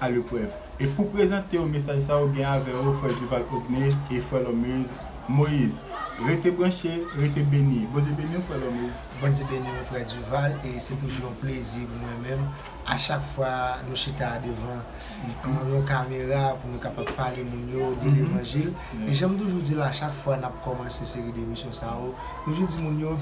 a leprèv. E pou prezante yo mesaj sa yo gen avè yo frè Duval Ogné e frè Lòmez Moïse. Rete branche, rete beni. Bondye beni w frè Lòmez. Bondye beni w frè Duval e se toujou yon plezi pou mwen menm a chak fwa nou chita devan yon kamera pou nou kapab pale moun yo de levanjil e janm toujou di l a chak fwa nap kòmanse seri de emisyon sa yo m toujou di moun yo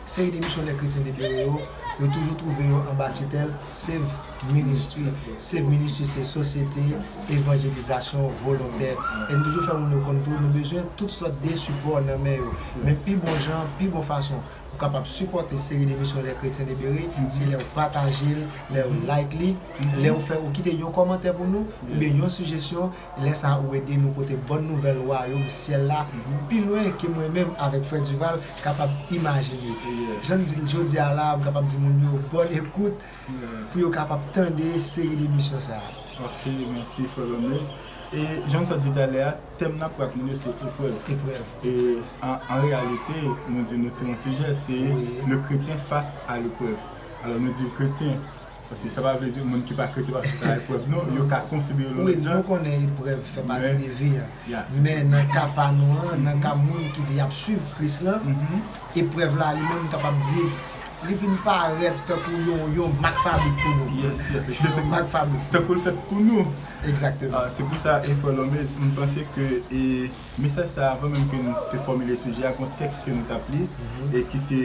Seri de misyonè kretyen depere yo, yo toujou twouve yo anba titèl Save Ministry. Save Ministry se sosyete evanjelizasyon volontè. E nou toujou fè moun yo konn tou, nou bezwen tout sòt de sipò nan men yo. Men pi bon jan, pi bon fason ou kapab sipòte Seri de misyonè kretyen depere, se lè ou pataje l, lè ou like li, lè ou fè ou kite yon kòmantè pou nou, oubyen yon sijesyon, Lè sa ou ede nou pote bòn nouvèl Wayòm syèl la pi lwen ke mwen menm avèk Frè Duval kapab imajine. Jan n di l jodi a la a, m kapab di moun yo bòn ekout pou yo kapab tande seri de emisyon sa a. Ok, mèsi Frè Lomez. E jan m sot di talè a, tèm n ap pran ak moun yo se eprèv. Eprèv. E an reyalite, nou di nou ti yon sijè, se le kretyen fas a leprèv. Alò nou di kretyen Paske sa pa vle di moun ki pa kretyen pa fè sa eprèv non, yo ka konsidere l yon lòt jan. Wi, nou konnen eprèv fè pati de vi a. Men nan ka pa nou an, nan ka moun ki di y ap suiv Kris lan, eprèv la li menm kapab di li vin parèt tankou yon mak fabrik pou nou. Yes, yes, se yon mak fabrik. Tankou l fèt pou nou. Egzakteman. Se pou sa e Frè Lormez, m panse ke mesaj sa a, anvan menm ke nou te fòmile sijè a, gon tèks ke nou t ap li e ki se.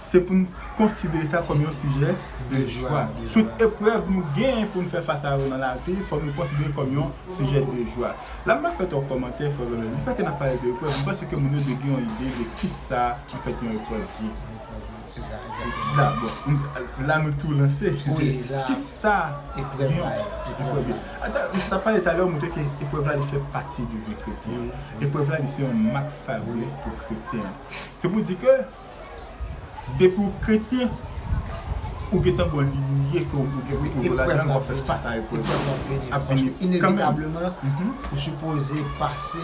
Se pou n konsidere sa kòm yon sijè de jwa. Tout eprèv nou gen pou n fè fas a yo nan lavi, fòk nou konsidere kòm yon sijè de jwa. La m pa fè twòp kòmantè, frè Ronel. Di fè ke n ap pale de eprèv, m panse ke moun yo dwe gen yon ide de kisa anfèt yon eprèv ye. La, bon, la nou tou lanse. Kisa eprèv la ye? Ata, m t ap pale talè, ou montre ke eprèv la li fè pati de vi kretyen an. Eprèv la li se yon mak fabrik pou kretyen an. Se pou di ke. Depi w kretyen ou gentan bon liy ou ye ke ou gen pou koz ou ladann wap fè fas a eprèv yo. Eprèv la ap vini ap vini kanmenm. Inevitableman ou sipoze pase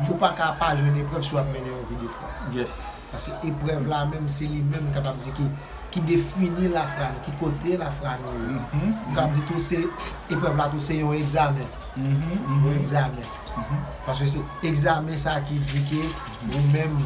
ou pa ka pa jwenn eprèv si wap mennen yon vi de fwa. Yes. Paske eprèv la menm se li menm m kapab di ki ki defini lafra nou ki kote lafra nou ye. M kapab di tou se eprèv la tou se yon egzamen. Yon egzamen. Paske se egzamen sa ki di ke ou menm.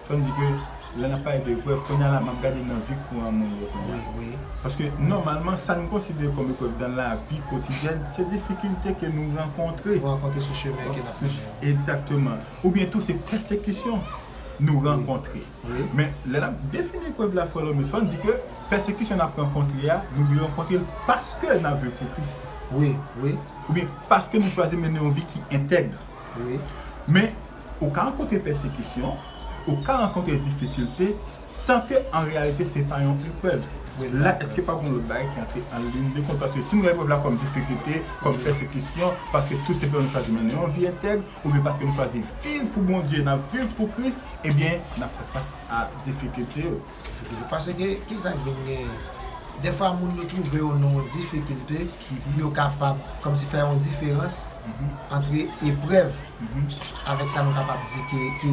Fò n di ke lè n ap pale de eprèv, kounye a la m ap gade nan vi kouran moun yo kounye a. Paske nòmalman sa n konsidere kòm eprèv nan lavi kotidyèn se difikilte ke nou rankontre. Nou rankontre sou chemen ke n ap mennen an. Egzakteman. Oubyen tou se pèsekisyon nou rankontre. Men lè n ap defini eprèv la frè Lòmis, fò n di ke pèsekisyon n ap rankontre a, nou dwe rankontre l paske n ap viv pou Kris. Oubyen paske nou chwazi mennen yon vi ki entèg. Men Ou ka rankontre pèsekisyon, ou ka rankontre difikilte san ke an reyalite se pa yon eprèv. La èske pa gon lòt bagay ki antre an lin de kont? Paske si nou wè eprèv la kòm difikilte, kòm pèsekisyon, paske tou senpleman nou chwazi mennen yon vi entèg, oubyen paske nou chwazi viv pou Bondye, n ap viv pou Kris, ebyen n ap fè fas a difikilte yo. Paske kisa k vin genyen? Dèfwa moun yo twouve yo nan yon difikilte, Epi yo kapab kòmsi fè yon diferans antre eprèv avèk sa nou kapab di ke ki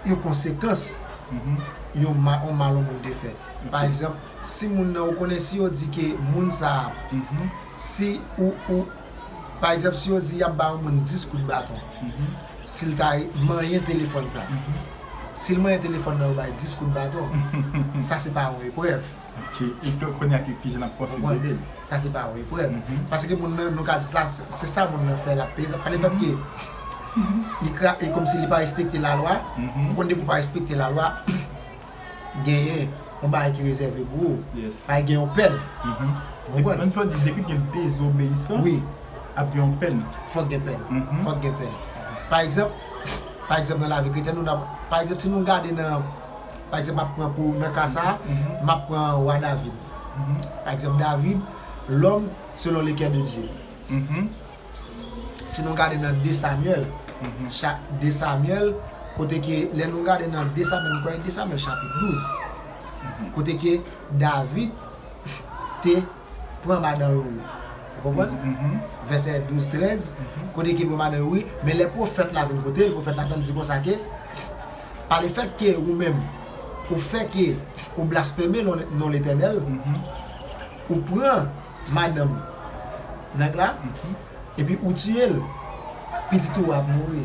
yon konsekans yon mal yon moun te fè. Pa egzanp, si moun nan ou konnen si yo di ke moun sa a, si ou, ou, pa egzanp si yo di y ap ba yon moun 10 kout baton, si l ta manyen telefòn sa, si l manyen telefòn nan yo ba l 10 kout baton, sa se pa yon eprèv. Ok e ke konya ki kijan nap pwosede. Ou konprande? Sa se pa yon eprèv. Paske moun nan nou ka di la se sa moun nan fè lap peye sa pa le fèt ke li kra e komsi li pa respekte la lwa ou konn depi ou pa respekte la lwa genyen yon bagay ki rezève pou ou. Paske gen yon pèn. Ou konprann? Menm si yo di je kou gen dezobeyisans ap gen yon pèn. Fòk gen pèn. Fòk gen pèn. Pa egzanp pa egzanp nan lavi kretyèn nou nan pa egzanp si nou gade nan. Pa egzanp, m ap pran pou nan ka sa a, m ap pran wa David. Pa egzanp, David, lòm selon le kè de Dye. Si nou gade nan de Samyèl, cha, de Samyèl, kote ke lè nou gade nan de Samyèl, m kwè e de Samyèl chapit 12, kote ke David te. pran madan yo wi ou konprann vèsè 12 13 kote ki pran madan yo wi men lè pwofèt la vin kotel pwofèt la tann di konsa ke pa le fèt ke ou menm ou fè ke ou blaspeme non letènèl ou pran madanm nèg la epi ou tiyel pitit ou a ap mouri.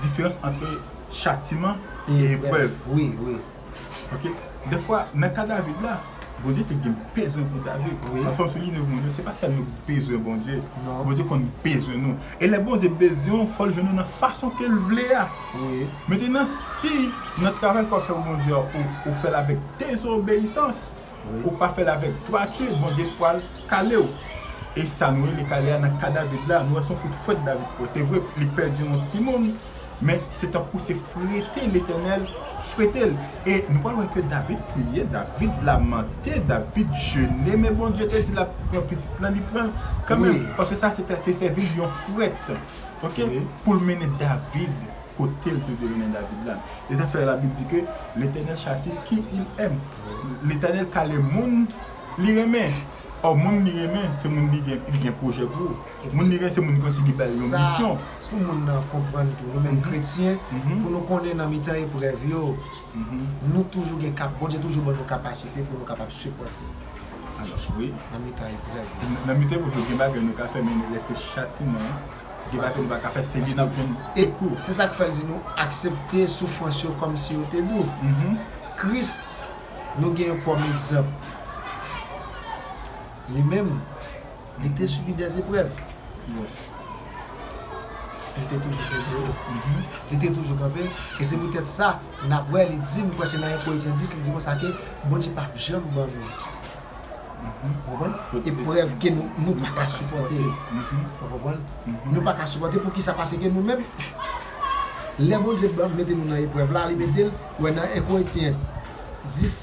diferans antre chatiman e eprèv. Wi, wi. Ok. De fwa, nan ka David la, Bondye te gen bezwen pou David. Wi. Anfè, m souline pou nou, se pa sèl nou k bezwen Bondye. Non. Bondye konn bezwen nou. E lè Bondye bezwen ou, fò l jwenn ou nan fason ke l vle a. Wi. Metenan, si nan travay ke w ap fè pou Bondye a, ou fè l avèk dezobeyisans. Ou pa fèl avèk twa tu bondye pwal kalew. E sa nou rele kale a nan ka David la nou wè son kout fwet David pwan se vre li pèdi yon ti moun men se tankou se frete letènèl fretel e nou pral wè ke David priye David lamante David jene men bondye te di lap pran pitit lan li pranl kanmenm paske sa te sèvi li yon fwet ok poul mennen David kote l te dwe mennen David la. Se sa k fè Labib di ke, Letènèl chatye ki il èm. Letènèl kale moun li renmen. Ò, moun li renmen, se moun li gen, li gen pwojè pou. Moun li renmen, se moun li konn si li bay yon misyon. Sa pou moun nan konprann tou, nou menm kretyen, pou nou konnen nan mitan eprèv yo, nou toujou gen kap, Bondye toujou ban nou kapasite pou nou kapab sipòte. Nan mitan eprèv yo. Nan mitan eprèv yo, gen bagay nou ka fè, men lè se chatiman. Vye bato li pa ka fè se li nap jwenn e kou. Se sak fèl di nou aksepte soufrans yo kòm si yo te dou. Kris nou genyen kòm egzanp li menm li te sibi dè eprèv. Li te toujou kenbe yo. Li te toujou kanpe e se pou tèt sa nap wè li di m kwè se nan 1 Korinthien 10 li di konsa ke Bondye pap janm ban nou. eprèv ke nou pa ka sipòte, nou pa ka sipòte pou kisa pase ke nou menm lè Bondye t banm mete nou nan eprèv la li metel wè nan 1 Korentyen 10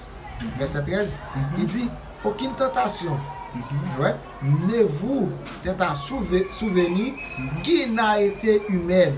vèsè 13 li di okin tantasyon wè ne vou tenta souveni ki na ete imèn.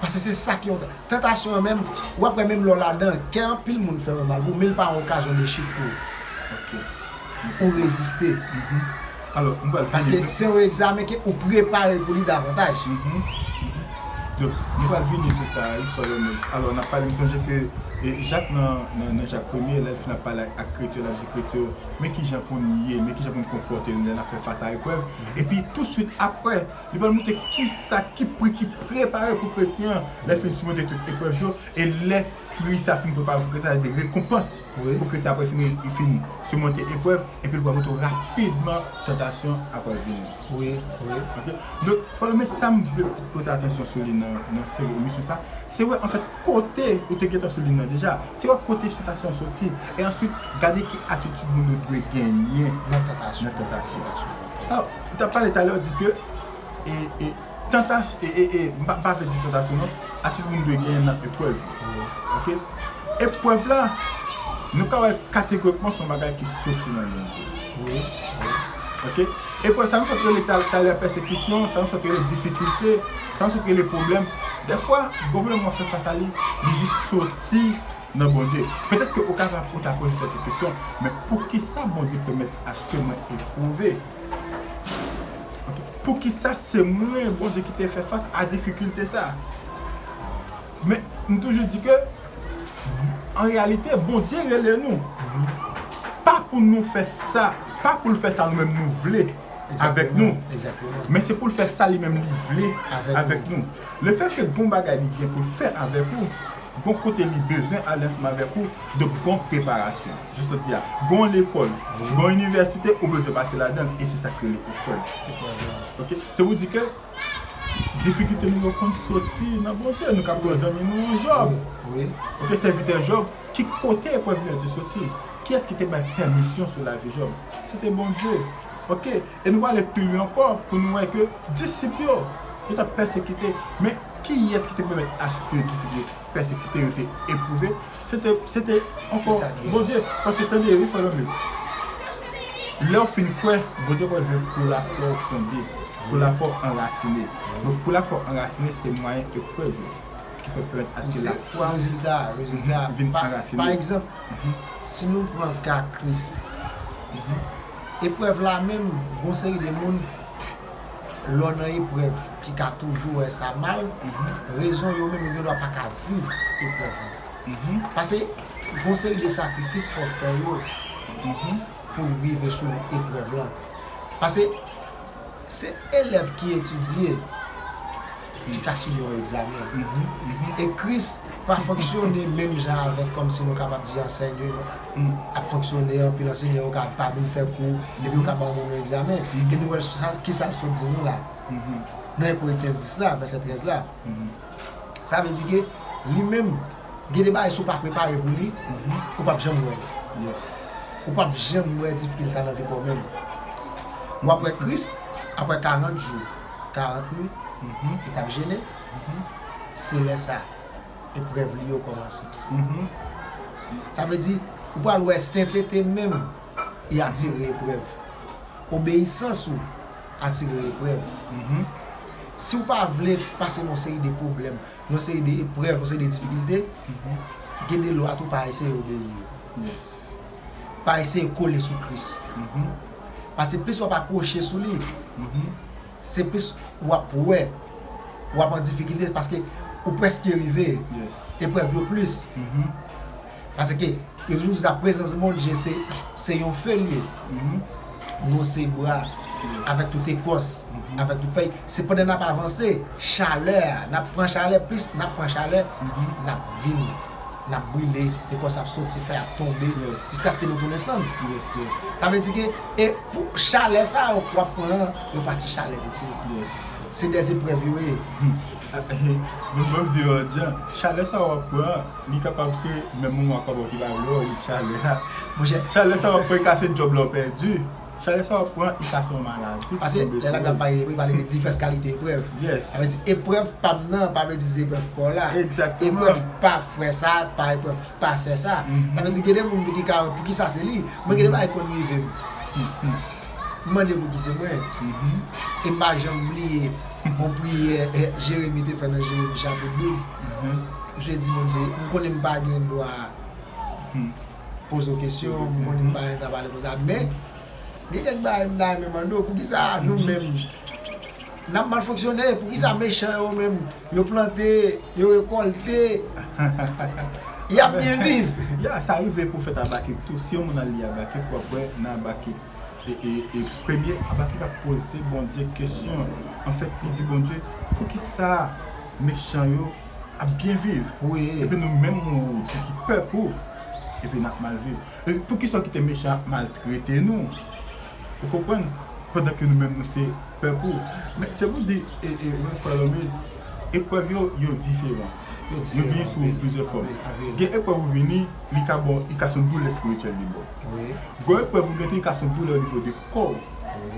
Pase se sa ki yon tan. Tantasyon an menm, ou ap wè menm lè w ladan, kè anpil moun fè ou mal bro, men li pa yon okazyon de chit pou ou. Ok. Pou ou reziste. Mh. Alò, m pral vini. Paske se yon egzamen ke ou prepare pou li davantaj. Mh. Mh. Donk, m pral vini sou sa a wi, Frè Lomej. Alò, n ap pale, m sonje ke Jak nan, nan Jak premye, lè l fin ap pale ak kretyen yo, l ap di kretyen yo, men ki jan pou n ye, men ki jan pou n konpòte n lè n ap fè fas a eprèv. Epi touswit apre. Li pral montre kisa ki pri ki prepare pou kretyen an lè fin simonte tout eprèv yo e lè pri sa fin prepare pou kretyen an, sa vle di rekonpans pou kretyen an apre li fin simonte eprèv, epi li pral montre w rapidman tantasyon apral vini. Ok, donk frè yo men sam vle pou pote atansyon sou li nan seri emisyon sa, se wè anfèt kote, ou te gentan sou li nan deja, se wè kote tantasyon an soti e answit gade ki atitid moun yo dwe genyen nan tantasyon. Ou tap pale talè ou di ke M pa vle di tantasyon non Atitid moun dwe genyen nan eprèv yo Eprèv la Nou ka wè kategorikman son bagay ki soti nan Bondye Eprèv sa nou sot rele talè pèsekisyon Sa nou sot rele difikilte Sa nou sot rele pwoblèm Dèfwa gon pwoblèm wap fè fas a li Li jis soti nan Bondye. Petèt ke ou ka ta ou ta poze tèt ou kesyon, men poukisa Bondye pèmèt aske mwen epwouve? Ok, poukisa se mwen Bondye ki te fè fas a difikilte sa? Men, m toujou di ke, an reyalite, Bondye rele nou, pa pou nou fè sa, pa pou l fè sa nou menm nou vle avèk nou, men se pou l fè sa li menm li vle avèk nou. Lefètke gon bagay li gen pou l fè avèk ou, Gon kote li bezwen ale ansanm avèk ou, donk gon preparasyon. Jis jodi a, gon lekòl, gon inivèsite ou bezwen pase ladan l e se sa k rele eprèv. Ok, se pou di ke difikilte nou yo konn soti nan Bondye. Nou kapab gen yon zanmi nou Jòb, ok, sèvitè Jòb, ki kote eprèv li yo te soti? Kiyès ki te bay pèmisyon sou lavi Jòb? Se te Bondye. Ok, E nou prale pi lwen ankò pou nou wè ke disip yo, yo t ap pèsekite. Men, kiyès ki te pèmèt aske disip yo pèsekite, yo te epwouve? Se te, se te ankò Bondye. Paske, tande, wi frè Lanmez, lè w fin kwè, Bondye pral vle pou lafwa w fonde, pou lafwa w anrasine. Donk, pou lafwa w anrasine, se mwayen eprèv yo ki pral pèmèt aske lafwa w vin anrasine. Pa egzanp, si nou pran ka Kris, Eprèv la menm gon seri de moun lè w nan eprèv ki ka toujou wè sa mal, rezon yo menm yo gen dwa pa ka viv eprèv lan. Pase gon seri de sakrifis fò w fè yo pou w rive sou eprèv lan. Pase se elèv ki etidye. Ki ka sibi yon egzamen. Ekris pa fonksyone menm jan avèk kòm si nou kapab di ansèyman ap fonksyone, anpil ansèyman yo ka pa vin fè kou epi yo ka ba yon moun yon egzamen. E nou wè ki sa l sot di nou la nan 1 Korityen 10 la, vèsè 13 la. Sa vle di ke li menm gen de bagay si w pa prepare pou li, ou p ap janm wè l. Ou p ap janm wè difikilte sa nan vi pa w menm. W ap wè Kris apre 40 jou. 40 min e tap jene se lè sa eprèv li yo kòmanse sa vle di ou pral wè sentete menm li atire eprèv obeyisans ou atire eprèv si ou pa vle pase yon seri de pwoblèm yon seri de eprèv yon seri de difikilte gen de lwa tou pa eseye obeyi yo. Pa eseye kole sou Kris. Pase plis wap apwoche sou li, se plis wap wè wap an difikilte paske ou preske rive. Eprèv yo plis. Paske yo toujou di sa prezans Bondye se yon fe li ye. Nou se bwa avèk tout ekòs, avèk tout fèy. Se pandan nap avanse, chalè a, nap pran chalè, plis nap pran chalè, nap vin. N ap brile, e kò sa ap soti, fèy ap tonbe, jiskaske nou tounen sann. Sa vle di ke, e pou chalè sa yo w ap pran an, yo pa ti chalè msye. Se dè zeprèv yo ye. Mwen menm se yon lòt jan. Chalè sa yo w ap pran an, li kapab se menm moman papa w te pa vle wè w, li t chalè a. Monchè. Chalè sa yo w ap pran e ka se djòb la w pèdi. Chale sa wap pran usa son maladi ki tonbe sou ou. Pase lè lap pale de eprèv li pale de divès kalite eprèv. Yes. Sa vle di eprèv pam nan pa vle di zeprèv paw la. Exactement. Eprèv pa frè sa pa eprèv pa sè sa. Sa vle di gen de moun tou ki ka wè poukisa se li. Mwen gen de bagay ki konn rive m. M mande pouki se mwen. E m pa janm bliye yon priyè Jeremi te fè nan Jeremi chapit 12. Misye di Bondye, m konnen m pa gen dwa poze w kesyon, m konnen m pa renmen nan pale konsa men gen kèk bagay m ta renmen mande w poukisa nou menm n ap mal fonksyone, poukisa mechan yo menm yo plante, yo rekòlte y ap byen viv. Ya, sa rive pou w fè t Abakik tou, si yon moun al li Abakik w ap wè nan Abakik e premye Abakik ap poze Bondye kesyon, anfèt li di Bondye poukisa mechan yo. ap byen viv epi nou menm moun ki ki pèp ou epi nap mal viv poukisa ou kite mechan ap maltrete nou ou konprann pandan ke nou menm nou se pèp ou men se pou di frè Lòmèz eprèv yo yo diferan yo vini sou plizyè fòm gen eprèv ou vini li ka bon li ka son doulè espirityèl li baw gon eprèv ou gen tou li ka son doulè onivo de kòw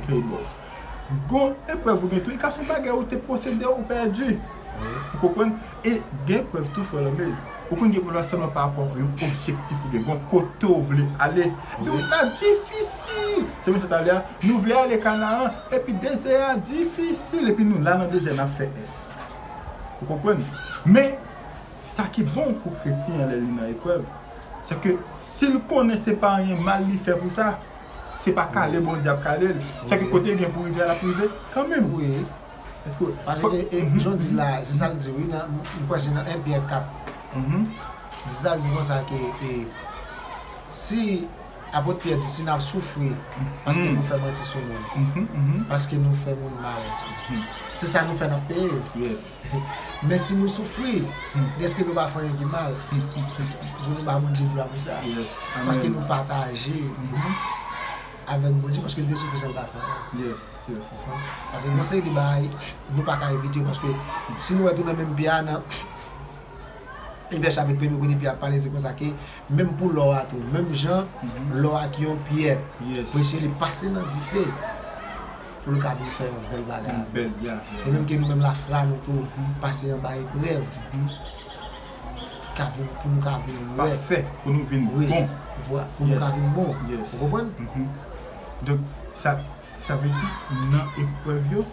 ke li baw. Gon eprèv ou gen tou e ka son bagay ou te posede ou pèdi ou konprann e gen eprèv tou frè lòmej ou konn gen pwoblèm sèlman pa rapò yon objektif ou gen gon kote ou vle ale epi wout la difisil se menm sa talè a nou vle ale kanaran epi dezè a difisil epi nou la nan dezè nap fè ès ou konprann men sa ki bon pou kretyen an lè li nan eprèv se ke sil konnen se pa anyen mal li fè pou sa. Se pa kale Bondye ap kale l. Sa ki kote gen pou rive a lap rive kan menm. Wi. Eske w. Pase ke e jan w di l la a se sa l di wi nan m kwè se nan 1 Pyè 4. Li di sa l di konsa ke e si Apot Pyè di si n ap soufri paske nou fè manti sou moun. Paske nou fè moun mal. Se sa nou fè n ap peye. Mèsi nou soufri dèske nou pa fè anyen ki mal pou nou ba Bondye glwa pou sa paske nou pataje avèk Bondye paske li te soufri san l pa fè anyen paske gen yon seri de bagay nou pa ka evite yo paske si nou wè tou nan menm Pyè a nan Ebre chapit premye kote Pyè ap pale se konsa ke menm pou lò a tou menm jan lò a ki yon pyè presye li pase nan dife pou l ka vin fè yon bèl bagay avè l. E menm ke nou menm lafra nou tou pase anba eprèv pou nou ka vin wè. Pafè, pou nou vin bon. Pou nou ka vin bon. Ou konprann? Donk, sa vle di nan eprèv yo,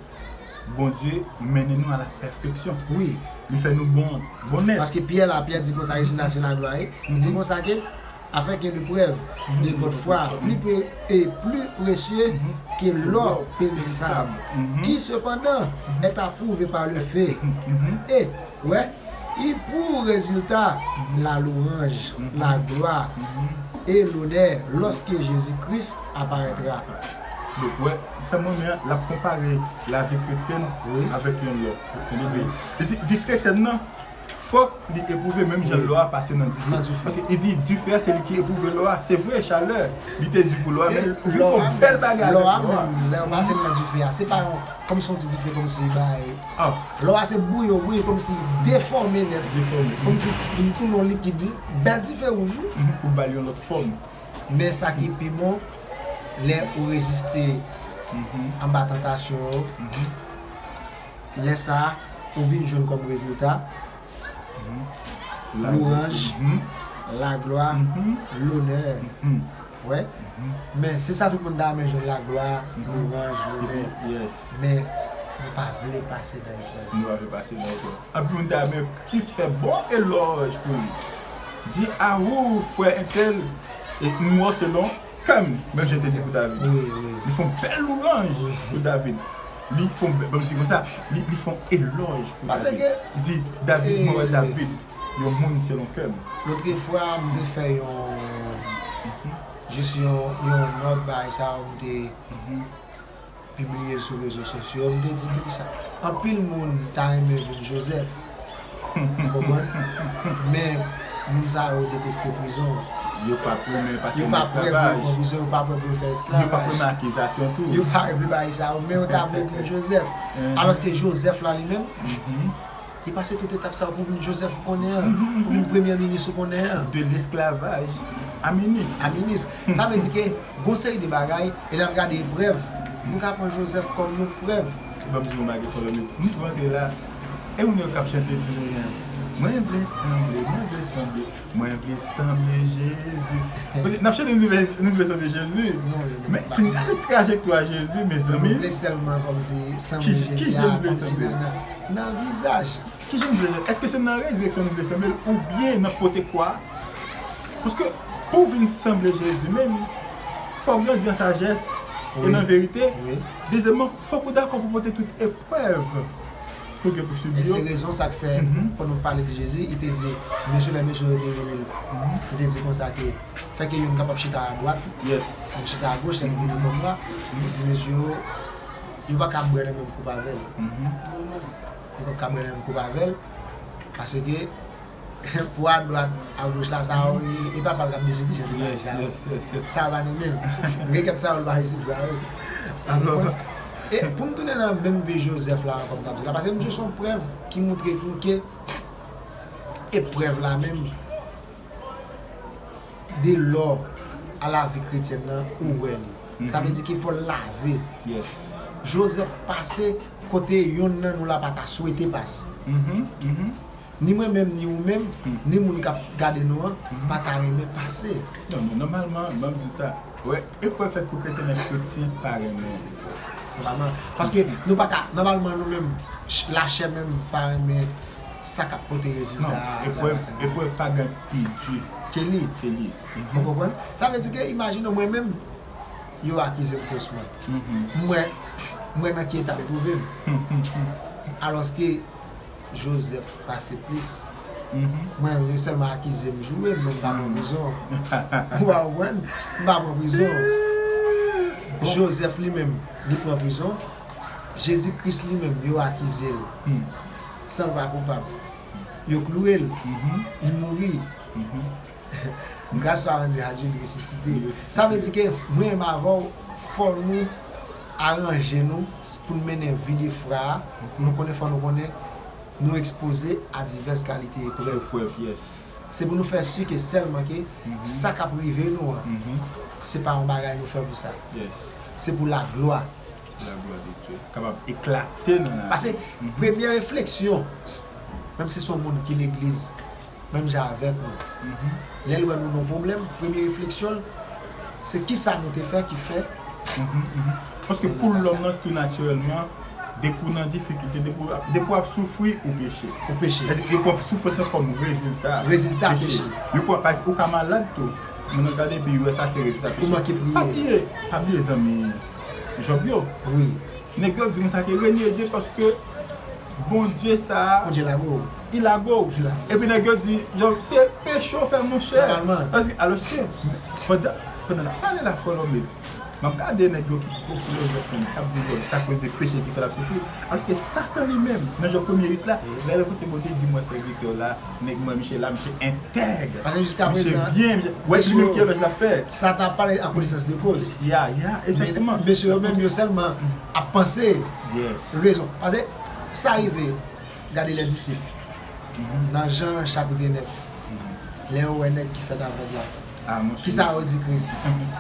Bondye mennen nou a la pèfeksyon. Wi. Li fè nou bon nèt. Paske Pyè la, Pyè di konsa, Rejina se laglwa e. Li di konsa ke. Afè ke le prèv de vòt fwa pli pe e pli presye ke lò perisab, ki sepandan è apwouve pa le fe e wè i pou rezilta la louanj, la glwa e lonè lòske Jezi Kris aparètra. Donk wè, sa m renmen an, l ap konpare lavi kretyèn avèk yon lò. Ou tande byen? Li di vi kretyèn nan. Fòk li epwouve menm jan lò a pase nan dife. Paske li di dife a se li ki epwouve lò a. Se vre chalè li te di pou lò a men ou vin fè yon bèl bagay avèk lò a. Lò a menm lè ou pase l nan dife a se pa yon kòm si yon ti dife kòm si bay. Lò a se bouyi ou bouyi kòm si defòme nèt. Defòme. Kòm si li tounen yon likid wi. Bèl dife wouj wi. Pou ba l yon lòt fòm. Men sa ki pi bon lè ou reziste anba tantasyon yo. lè sa a ou vin jwenn kòm rezilta, Louranj, laglwa, lonè. Wè? Men, se sa tout moun ta renmen jwenn, laglwa, louranj, lonè. Men, nou pa vle pase nan eprèv. Nou pa vle pase nan eprèv. Anpil moun ta renmen Kris fè bon elòj pou li. Di, Awou, frè entèl, e m wè w se lon. Kèm bèlje te di pou David. Li fon bèl louranj pou David. Li fon bèl, banm di konsa, li fon elòj pou David. Li di, David, mwen wè David, yon moun selon kèm. Lotre fwa m te fè yon jis yon nòt bay sa ou m te. pibliye l sou rezo sosyo m te di depi sa anpil moun ta renmen vin jozèf ou konprann men moun sa yo deteste prizon an yo pa prè pou yo pran prizon yo pa prè pou yo fè esklavaj yo pa prè nan akizasyon tou yo pa vle bagay sa yo men yo ta vle vin jozèf alòske jozèf la li menm. Li pase tout etap sa pou vin Joseph ou konnen an, pou vin premyè minis ou konnen an. De lesklavaj a minis. A minis. Sa vle di ke gon seri de bagay, e lè ap gade eprèv, nou ka pran Joseph kòm yon prèv. E banm di w yon bagay Kolonel, m tou antre la, e moun yo kap chante sou mwen an, mwen vle sanble, mwen vle sanble, Mwen vle sanble Jezi. Kote nap chante nou vle nou vle sanble Jezi. Non yo menm pa. Si n gade trajektwa Jezi mezanmi. Yo vle sèlman kòmsi sanble Jezi a. Ki je nou vle sanble l. Nan vizaj. Ki je nou vle sanble l. Eske se nan rezireksyon nou vle sanble l oubyen nan pote kwa a. Paske pou vin sanble Jezi menm fò w grandi an sajès e nan verite. Dezyèmman fòk ou dakò pou pote tout eprèv. E se rezon sa k fè, pandan l pale de Jezi, li te di, Mesye lè mesye yo te rele l, li te di konsa ke, fè ke youn kapab chita adwat, youn chita agoch, lè li vini kòm la, li di mesye yo, yo pa ka bwè nan menm koup avè l, yo pa ka bwè nan menm koup avè l, paske. Pwa dwat a goch la sa yo e papal kap deside jodi a sa yo sa yo pa nome yo nou gen kèk sa yo nou pa resi vwa yo alò e poum tounen nan menm vye jozèf la ankò m tap di la paske misye son prèv ki moutre tou ke eprèv la menm de lò a lavi kretyèn nan ou wè li sa vle di ke fòl lave jozèf pase kote yonn nan nou la pata swete pase Ni mwen menm ni ou menm, ni moun k ap gade nou an pa ta renmen pase. Non, men nòmalman, m ap di w sa, wè, eprèv fèt pou kretyen, men kretyen pa renmen eprèv. Nòmalman. Paske nou pa ka, nòmalman nou menm, lachè menm pa renmen sa k ap pote rezilta a. Non, eprèv, eprèv pa gen pi di. Ke li. Ke li. Ou konprann? Sa vle di ke imajine w mwen menm, yo akize m fosman. M wè, m wè nan ki eta m twouve m. Alòske. Joseph pase plis mwen yo yo selman akizem joure men mpa pran prizon ou pa konprann mpa pran prizon Joseph li menm li pran prizon Jezi kris li menm yo akizel sanl pa koupab yo klourel li mouri. Gras sa Randy Hadjil resisite. Sa vle di ke mwen menm avè w fò nou aranje nou pou n mennen vi defra a, nou konnen fò nou konnen nou ekspoze a divès kalite eprèv. Se pou nou fè si ke sèlman ke sa k ap rive nou an se pa yon bagay nou fè pou sa. Se pou laglwa. Kapab eklate nan lari. Pase premye refleksyon menm si se yon moun ki legliz. menm jan avèk nou. Lè l wè nou nan pwoblèm, premye refleksyon l, se kisa nou te fè ki fè. Paske pou lòm nan tou natirèlman, depi w nan difikilte, depi w ap soufri, ou peche. Ou peche. Sa vle di yo pran soufrans lan kòm rezilta. Rezilta peche. Yo pran paske ou ka malad tou, moun nan gade epi yo wè sa se rezilta peche. Ou manke priye. Pa bliye, pa bliye zanmi Jòb yo. Wi. Nèg yo ap di konsa ke renye Dye paske. Bondye sa a. Bondye lago ou. Li lago ou. Epi nèg yo di, se peche ou fè monchè. Alòske, pandan n ap pale la Frè Lòbez, m ap gade nèg yo ki gwo filozòf menm, k ap di se akoz de peche ki fè l ap soufri. Alòske Satan li menm, nan Jòb premye 8 la, lè l koute Bondye, li di mwen sèvitè w la, nèg mwen misye la, misye entèg, misye byen, wè li menm ki elòj l ap fè. Satan ap pale an konesans de koz. Ya, ya, egzakteman. Men mesye yo menm yo sèlman ap panse. Rezon. Pase, sa rive, gade lè disip, nan Jan chapitre 9, lè yo wè nèg ki fèt avèg la, ki sa yo di Kris?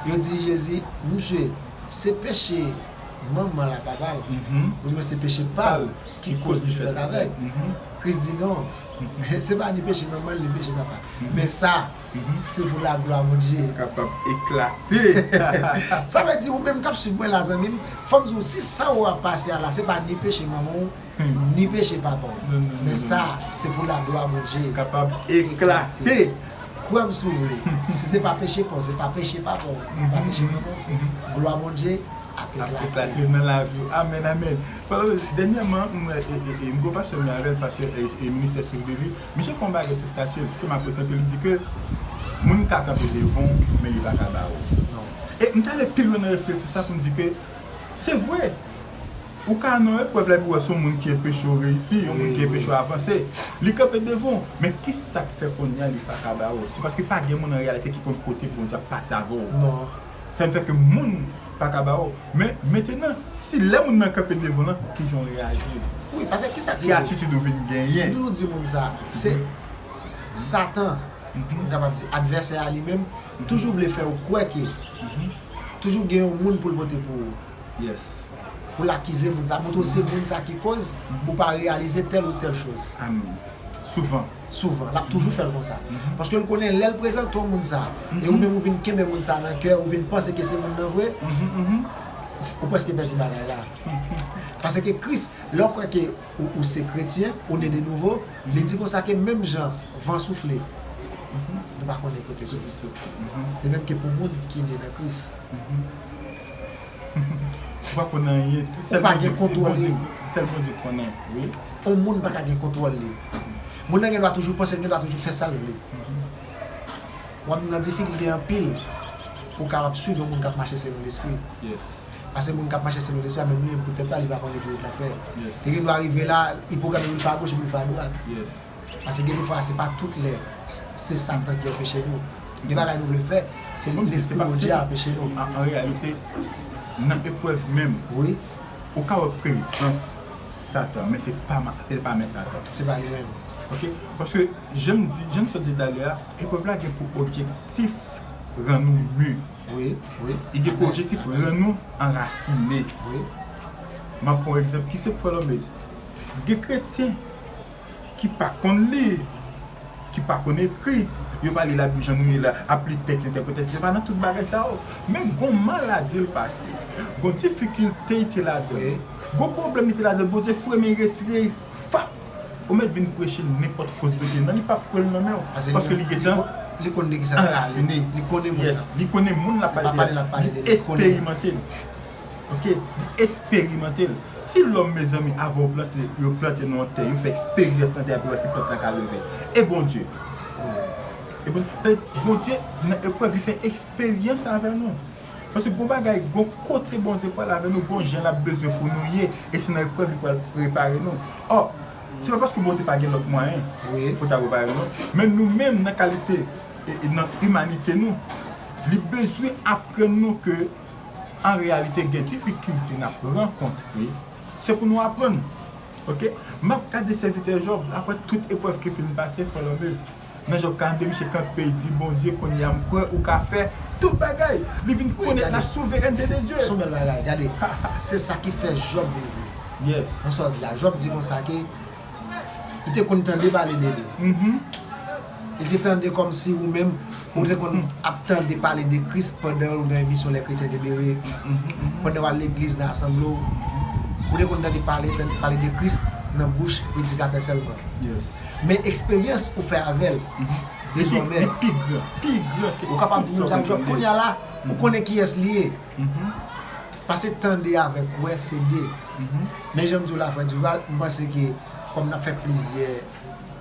Yo di Jezi, Msye, se peche manman l a papa l, ouzwen se peche pa l ki koz msye fèt avèg? Kris di, Non, se pa ni peche manman l ni peche papa l, men sa. Se pou la glwa Bondye. Kapab eklate. Sa vle di ou menm kap swiv mwen la zanmim, fòm di ou si sa ou ap pase a la se pa ni peche manman ou, ni peche papa ou. Men sa se pou la glwa Bondye. Kapab eklate. Kwèm si ou vle. Si se pa peche pa ou, se pa peche papa ou, ni pa peche manman ou, glwa Bondye ap eklate. Ap eklate nan lavi ou. Amen amen. Frè Loris, dènyèman m wè e m gen yon pastè m avèl, pastè e ministè Souf de Li. Misye pran bagay sou statil ke m apresye anpil li di ke moun ka kanpe devan w men li pa ka ba w. E m ta ale pi lwen nan reflechi sa pou m di ke se vre ou ka nan eprèv la epi w wè se yon moun ki enpeche w reyisi, yon moun ki enpeche w avanse, li kanpe devan w men kisa k fè kounya li pa ka ba w? Se paske pa gen moun an reyalite ki konn kote Bondye ap pase avè w. Sa vle fè ke moun pa ka ba ou. Men, mentenan, si lè moun nan kanpe devan lan, ki jan ou reyaji? Wi, paske ki sa k rive? Ki atitid ou vin genyen? M toujou di moun sa, se Satan, m kapab di, advèsè a li menm, toujou vle fè ou kwè ke toujou gen yon moun pou l pote pou ou. Yes. Pou l akize moun sa, montre ou se moun sa ki koz ou pa reyalize tèl ou tèl choz. Amèn. Souvan. souvan, lap toujou fèl konsa. Paskel konnen lèl prezante w moun sa, e ou menm ou vin kenbe moun sa nan kè, ou vin panse ke se moun nan vre, ou preske pèdi bagay la. Paske Kris, lè ou kwè ke ou se kretyen, ou ne de nouvo, li di konsa ke menm jan van soufle, nou pa konnen kote l soti. De menm ke pou moun ki ne nan Kris. Ou pa konn anyen tout sèl bondye ki kontwòl li sèl bondye konnen wi. On moun pa ka gen kontwòl li moun nan gen dwa toujou panse gen dwa toujou fè sal vle wap nan difikilte anpil pou ka ap swiv yon moun kap mache selon lespri pase moun kap mache selon lespri a menm li menm pou tèt pa li pa konnen ki wout lap fè li gen dwa rive la ipogame li pa agoch epi li fè adwat. Pase gen de fwa se pa tout lè se satan ki anpeche nou. Gen bagay nou vle fè, se lespri Bondye ki anpeche nou. An reyalite, nan eprèv menm, ou ka wè prezans satan, men se pa men satan. Se pa li menm. Ok, paske jan m di, jan m sot di talè a, eprèv la gen pou objektif rann ou mu. Li gen pou objektif rann nou anrasine. M ap pran yon egzanp, ki se Frè Lòmez. Gen kretyen ki pa konn li, ki pa konn ekri, yo pa li labib jan nou ye la, ap li tèks entèprete, yo pa nan tout bagay sa yo. Men gon maladi l pase, gon difikilte y te ladan l, gon pwoblèm li te ladan l, Bondye foure men y retire y fap! Ou mèt vin preche l nenpòt fo zbete nan li pap pran l nan men w paske li gentan anrasine, yes, li konnen moun l ap pale de a, li esperimante l. ok li esperimante l si lòm mezanmi avan yo plante li yo plante nan yon tè yo fè eksperyans nan tè a pou yo wè si plant la ka leve e Bondye Bondye nan eprèv li fè eksperyans avè nou paske gon bagay gon kote Bondye pral avè nou gon jan lap bezwen pou nou ye e se nan eprèv li pral prepare nou ò se pa paske Bondye pa gen lòt mwayen pou ta prepare nou men nou menm nan kalite nan imanite nou li bezwen aprann nou ke An reyalite gen difikilte nap rankontre se pou nou aprann ok map gade sèvitè Job aprè tout eprèv ki fin pase follow me nan Job 42 misye kanpe di Bondye kounya m kwè ou ka fè tout bagay li vin konèt la souverènte de Dye. Son bèl bagay gade se sa ki fè Job vin vre nan sa w di a Job di konsa ke li te konn tande pale de li. Li te tande kòm si ou menm ou te konn ap tande pale de Kris pandan ou nan emisyon Lè Kretyen te Bere, pandan w al legliz nan asanble w. Ou te konn tande pale pale de Kris nan bouch predikatè sèlman. Men eksperyans ou fè avè l dezòmè, ou kapab di menm jan ak Jòb, kounye a la, ou konnen kiyès li ye. Pase tande avèk wè se de. Men jan m di w la frè Duval, m panse ke kòm n ap fè plizyè.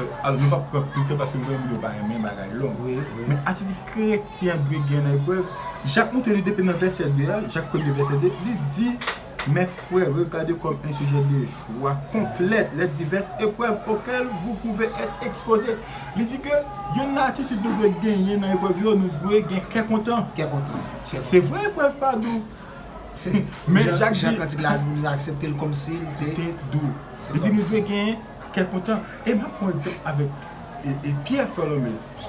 Alò nou pap pran plis tan paske nou konnen moun yo pa renmen bagay long. Men atitid kretyen an dwe gen nan eprèv. Jak montre li depi nan vèsè 2 a, Jak premye vèsè 2, li di, Mes frères, regardez comme un sujet de joie complète les diverses épreuves auxquelles vous pouvez être exposés. Li di ke yonn nan atitid nou dwe genyen nan eprèv yo, nou dwe gen kè kontan. Kè kontan, sè vre. Se vre eprèv pa dou. Men Jak di. Jan kantik la di pou nou aksepte l kòmsi l te dou. Li di nou dwe gen. kè kontan. E banm yon egzanp avèk Pierre Tholomèse.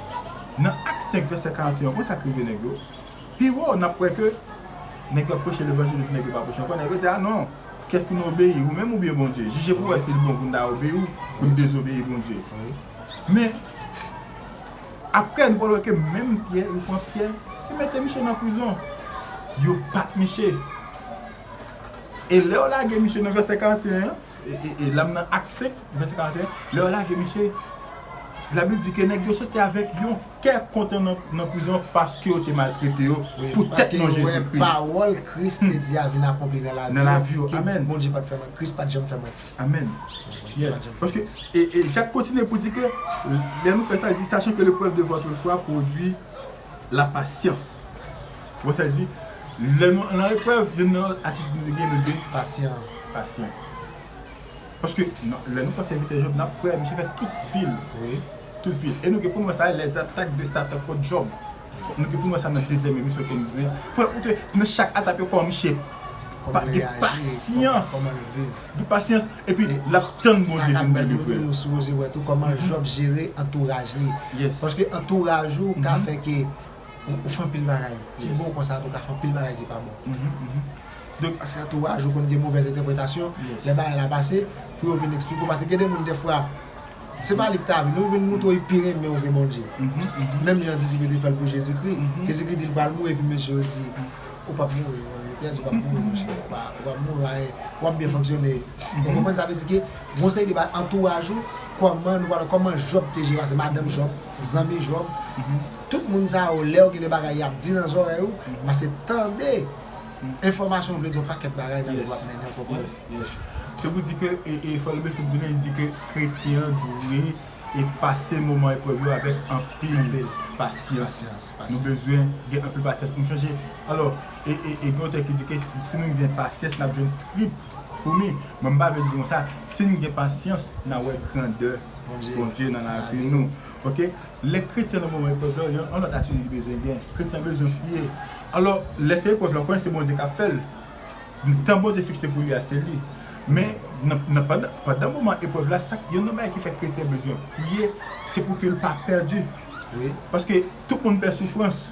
Nan Acte 5 vèsè 41 an konn sa k rive nèg yo? Pi wo nap wè ke nèg yo ap preche levanjil yo di nèg yo pa preche ankò, nèg yo di a non, kèk ki nou obeyi ou menm oubyen Bondye? Jije pou wè si l bon pou n ta obeyi ou, pou n dezobeyi Bondye. Men, aprè nou pral wè ke menm Pierre, yo pran Pierre, yo mete miche nan prizon. Yo bat miche. E lè yo lage miche nan vèsè 41 an, E la m nan Act 5, vèsè 41, lè yo lage misye, Labib di ke nèg yo soti avèk yon kè kontan nan prizon an paske yo te maltrete yo poutèt non Jezikri. Paske yo wè pawòl Kris te di a vin akonpli nan lavi yo, ke Bondye pa t fè manti. Kris pa t janm fè manti. Amèn. E Jak kontinye pou di ke, lè nou fè sa, li di, Sachan ke leprèv de vòtre fwa pwodui. Lapasyans. Ou wè sa li di? Lè nou nan eprèv, youn nan atitid nou dwe gen, nou dwe pasyan. Paske, lè nou pran sèvitè Jòb, n ap wè misye fè tout vi l. Tout vi l. E nou gen pou nou wè sa, lèzatak de Satan kont Jòb. Nou gen pou nou wè sa nan dezyèm emisyon ke nou genyen. Pou te, nan chak atak yo, kòman misye pa gen pasyans. Gen pasyans epi lap tann Bondye vin bèl yo frè. Ou sipoze wè tou kòman Job jere antouraj li. Paske antouraj ou ka fè ke ou fè anpil bagay ki bon konsa tou ka fè anpil bagay ki pa bon. Donk paske antouraj ou konn gen movèz entèpretasyon lè bagay la pase pou yo vin eksplike ou paske gen de moun dèfwa se pa li ki ta vini yo vin montre ou yo pi renmen ou ke Bondye. Menm jan disip yo te fèl pou Jezikri. Jezikri di li pral mouri epi mesye yo di. Ou pap mouri non yo pèdi wap mouri monchè ou pa wap mouri anyen wap byen fonksyone ou konprann sa vle di ke gon seri de bagay antouraj ou kòman nou pale kòman Jòb te jere ase madanm Jòb zanmi Jòb tout moun sa yo lèw gen de bagay yap di nan zòrèy ou pase tande enfòmasyon ou vle di yon pakèt bagay nan lèw ap mennenw konprann se pou di ke e fòlibè finn tounen di ke kretyen an dwe e pase moman eprèv yo avèk anpil pasyans. Nou bezwen gen anpil pasyans pou nou chanje. Alò, e gen otè ki di ke si nou gen pasyans, n'ap jwenn trip foumi. Mwen m pa vle di li konsa. Si nou gen pasyans, n'a wè grandè Bondye nan lavi nou. Ok. Lè kretyen nan moman eprèv la, yon lòt atitid li bezwen gen. Kretyen an bezwen priye. Alò, lè se eprèv la, ou konnen se Bondye k'ap fè l. Tan Bondye fikse pou li a, se li. Men, nan pandan, pandan moman eprèv la, sa k, youn nan bagay ki fè kretyen bezwen priye, se pou ke l pa pèdi. Paske tout moun pè soufrans.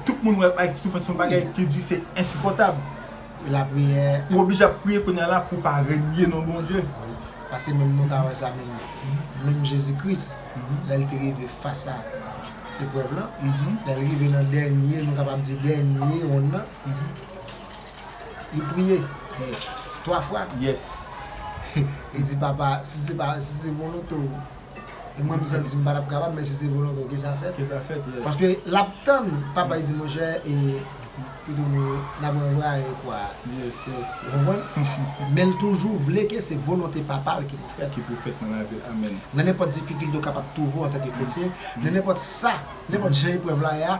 Tout moun wè ak soufrans se yon bagay ki di, se ensipòtab. E lapriyè. Ou oblije ap priye kounye a la pou w pa renye non Bondye. Wi. Paske menm nou ka wè sa menm, menm Jezi Kris, lè l te rive fas a eprèv lan, lè l rive nan dènye, nou kapab di dènye wonn nan, Li priye. Yes. 3 fwa? Yes. Li di papa si se pa si se volonte w e mwen m santi m pa tap kapab men si se volonte w ke sa fèt. Ke sa fèt yes. Paske lap tann papa li di monchè e pito nou nap ranvwaye kwa a. Yes yes. Ou konprann? Men l toujou vle ke se volonte papa l ki pou fèt. Ki pou fèt nan lavi l. Amen. Nan nenpòt difikilte w kapab twouve w antanke kretyen, nan nenpòt sa, nenpòt jan eprèv la ye a,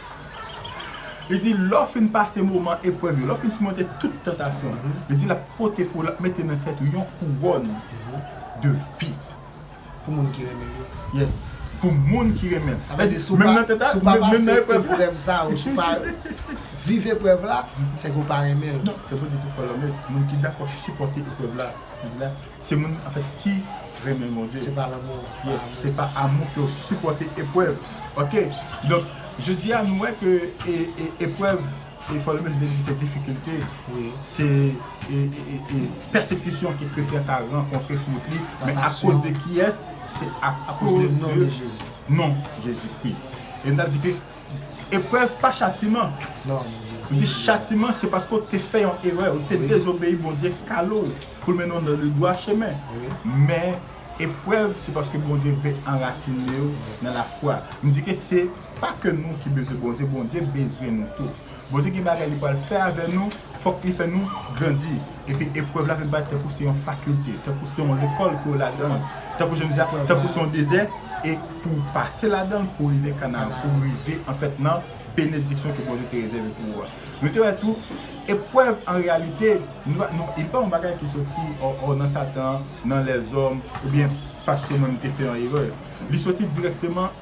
Li di, lè w fin pase moman eprèv yo, lè w fin simonte tout tantasyon, li di l ap pote pou w, l ap mete nan tèt ou yon kouwòn de vi. Pou moun ki renmen l yo. Yes, pou moun ki renmen l. Sa vle di si w pa, si w pa pase eprèv sa yo, si w pa viv eprèv la, se ke w pa renmen l. Non, se pou w di tou fò lòmèt, moun ki dakò sipòte eprèv la, li di la. Se moun anfèt ki renmen Bondye. Se pa lanmou an. Yes, se pa amou ke ou sipòte eprèv. Ok, donk jodi a nou wè ke eprèv e fò nou menm vle di se difikilte, se pèsekisyon ke kretyen ka rankontre sou wout li, men akoz de kiyès? Se akoz de non Jezi. Non Jezikri. E nou ta di ke Eprèv pa chatiman. Li di chatiman se paske ou te fè yon erè, ou te dezobeyi Bondye kale w pou l mennen w nan le dwa chemen. Men, eprèv se paske Bondye vle anrasine w nan lafwa. M di ke se pa ke nou ki bezwen Bondye, Bondye bezwen nou tou. Bondye gen bagay li pral fè avè nou, fòk li fè nou grandi. Epi eprèv la vin parèt tankou se yon fakilte, tankou se yon lekòl ke w ladan l, tankou jan m di a, tankou se yon dezè, e pou w pase ladan l pou w rive Kanaan, pou w rive anfèt nan benediksyon ke Bondye te rezève pou ou a. Nou te wè tou, eprèv an reyalite, li pa yon bagay ki soti ò nan Satan, nan lèzòm, oubyen paske mwen m te fè yon erè. Li soti dirèkteman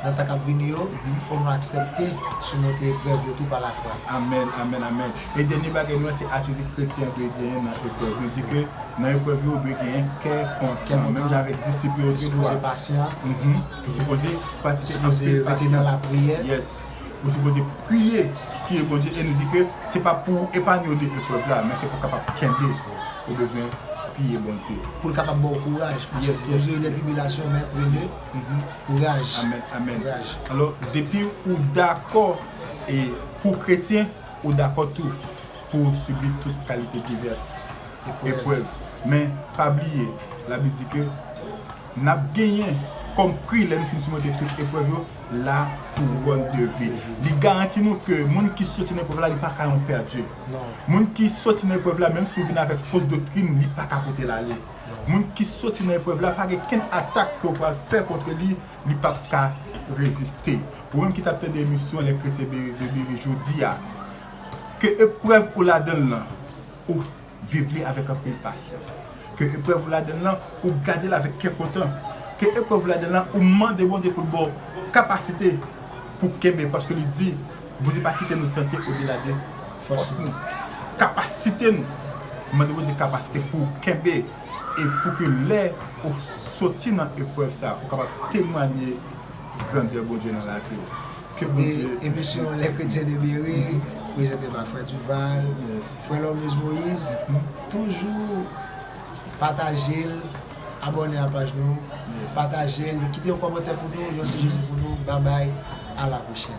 Nan tan kap vini yo, fò nou aksèpte simonte eprèv yo tou pa lafwa. Amen amen amen e dènye bagay nou wè se atitid kretyen an dwe genyen nan eprèv li di ke nan eprèv yo ou dwe genyen kè kontan menm jan avèk disip yo ou dwe sipoze pasyan ou sipoze pratike anpil pasyans yes ou sipoze priye priye Bondye e nou di ke se pa pou ou epanye w de eprèv la men se pou kapab kenbe ou bezwen priye Bondye poul kapab baw kouraj yes yes yes paske nou jwenn de tribilasyon men premye. Kouraj. Amen amen alò depi ou dakò pou kretyen ou dakò tou pou ou sibi tout kalite divès eprèv men pa bliye labib di ke nap genyen kòm pri lè nou fin simonte tout eprèv yo la kouwòn de vi li garanti nou ke moun ki soti nan eprèv la li paka yon pèdi moun ki soti nan eprèv la menm si ou vin avèk fo doktrin li paka pote l ale. Moun ki soti nan eprèv la pa gen kenn atak ke w pral fè kontre li, li p ap ka reziste. Ou menm ki t ap tande emisyon Lè Kretyen Bere jodi a, ke eprèv ou ladan l lan, ou viv li avèk anpil pasyans. Ke eprèv ou ladan l lan, ou gade l avèk kè kontan. Ke eprèv ou ladan l lan, ou mande Bondye pou l ba w kapasite pou w kenbe, paske li di, Bondye pa kite nou tante odela de. Fòs nou. Kapasite nou. Mande Bondye kapasite pou ou kenbe e pou ke lè ou soti nan eprèv sa ou kapab temwanye grandè Bondye nan lavi ou. Ke Bondye beni ou. Sete emisyon Les Chretiens de Berry prezante pa Frè Duval, Frè Lormeus Moïse. Toujou pataje l, abòne a paj nou, pataje l, kite yon kòmantè pou nou, yon sijesyon pou nou. Babay, a la pwochèn.